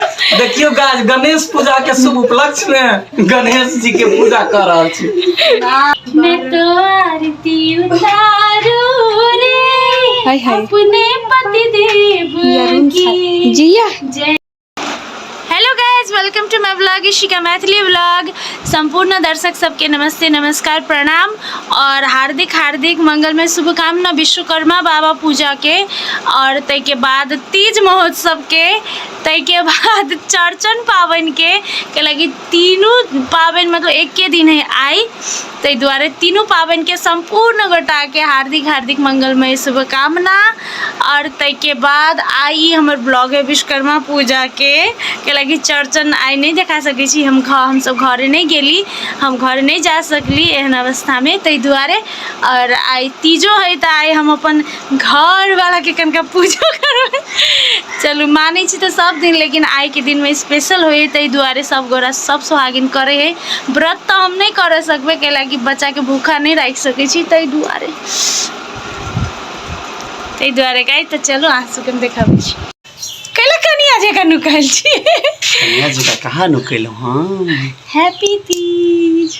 देखियो गाज गणेश पूजा के शुभ उपलक्ष्य में गणेश जी के पूजा कर रहल छी मैं तो आरती उतारू रे हाय हाय अपने पति देव की जिया जय hello guys welcome to my blog Ishika Maithili blog सम्पूर्ण दर्शक सबके नमस्ते नमस्कार प्रणाम और हार्दिक हार्दिक मंगल में शुभकामना विश्वकर्मा बाबा पूजा के और तय के बाद तीज महोत्सव के ताहिके बाद चौड़चन पाबनिके कैलाकि तीनू पाबनि मतलब एके दिन है आइ ताहि दुआरे तीनू पाबनिके सम्पूर्ण गोटाके हार्दिक हार्दिक मंगलमय शुभकामना आओर ताहिके बाद आइ ई हमर ब्लॉग है विश्वकर्मा पूजाके कैलाकि चौड़चन आइ नहि देखा सकै छी हम घर हमसभ घरे नहि गेली हम घर नहि जा सकली एहन अवस्थामे ताहि दुआरे आओर आइ तीजो है तऽ आइ हम अपन घरवालाके कनिका पूजो करबै चलू मानै छी तऽ सब दिन लेकिन आइके दिनमे स्पेशल होइ ताहि दुआरे सब गोरा सब सुहागिन करै हइ व्रत तऽ हम नहि करऽ सकबै कैलाकि बच्चाके भूखा नहि राखि सकै छी ताहि दुआरे ताहि दुआरे गाय तऽ चलू अहाँ सबके हम देखाबै छी कैला कनिया जकाँ नुकायल छी कन्या जी का कहाँ नुकेलहुँ हम हैप्पी तीज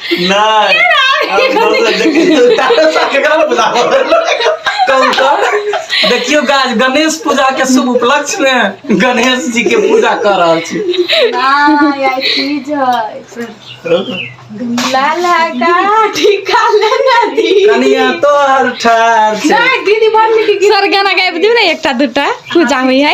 नाही देखियो गाज गणेश पूजा के शुभ उपलक्ष्य में गणेश जी के पूजा कर रहा छी नहीं आई चीज है लाल है का टीका लेना दी कनिया तो हर ठार छै नहीं दीदी बन की सर गाना गाबि दिउ ने एकटा दुटा पूजा होइ है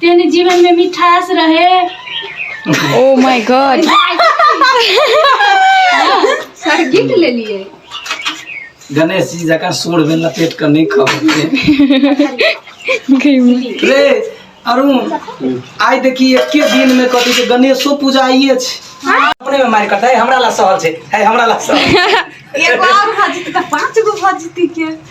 तेने जीवन में मिठास रहे oh my god sir gift ले लिए गणेश जी जका सूर में लपेट कर नहीं खाओगे रे अरुण आइ देखी एके दिन में कथी के गणेशो पूजा आइए छै अपने में मारि करतै हमरा ला सहल छै है हमरा ला सहल एगो और भजती तऽ पाँच गो भजती के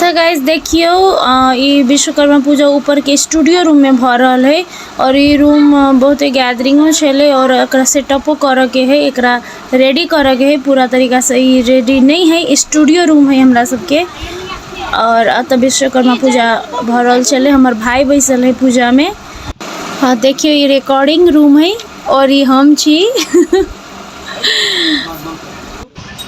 तऽ गाइज देखियौ ई विश्वकर्मा पूजा ऊपरके स्टूडियो रूममे भऽ रहल है आओर ई रूम बहुते गैदरिंगो छलै आओर एकरा सेटअपो करऽके है एकरा रेडी करऽके है पूरा तरीकासँ ई रेडी नहि है स्टूडियो रूम है हमरा सबके आओर अतऽ विश्वकर्मा पूजा भऽ रहल छलै हमर भाय बैसल है पूजामे हँ देखियौ ई रिकॉर्डिंग रूम है आओर ई हम छी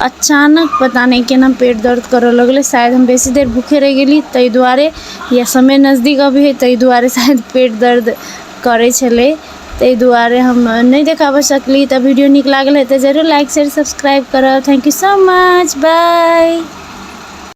अचानक पता नहि केना पेट दर्द करऽ लगलै शायद हम बेसी देर भूखे रहि गेली ताहि दुआरे या समय नजदीक अबै हइ ताहि दुआरे शायद पेट दर्द करै छलै ताहि दुआरे हम नहि देखाबऽ सकली तऽ वीडियो नीक लागल हेतै जरूर लाइक शेयर सब्सक्राइब करब thank you so much by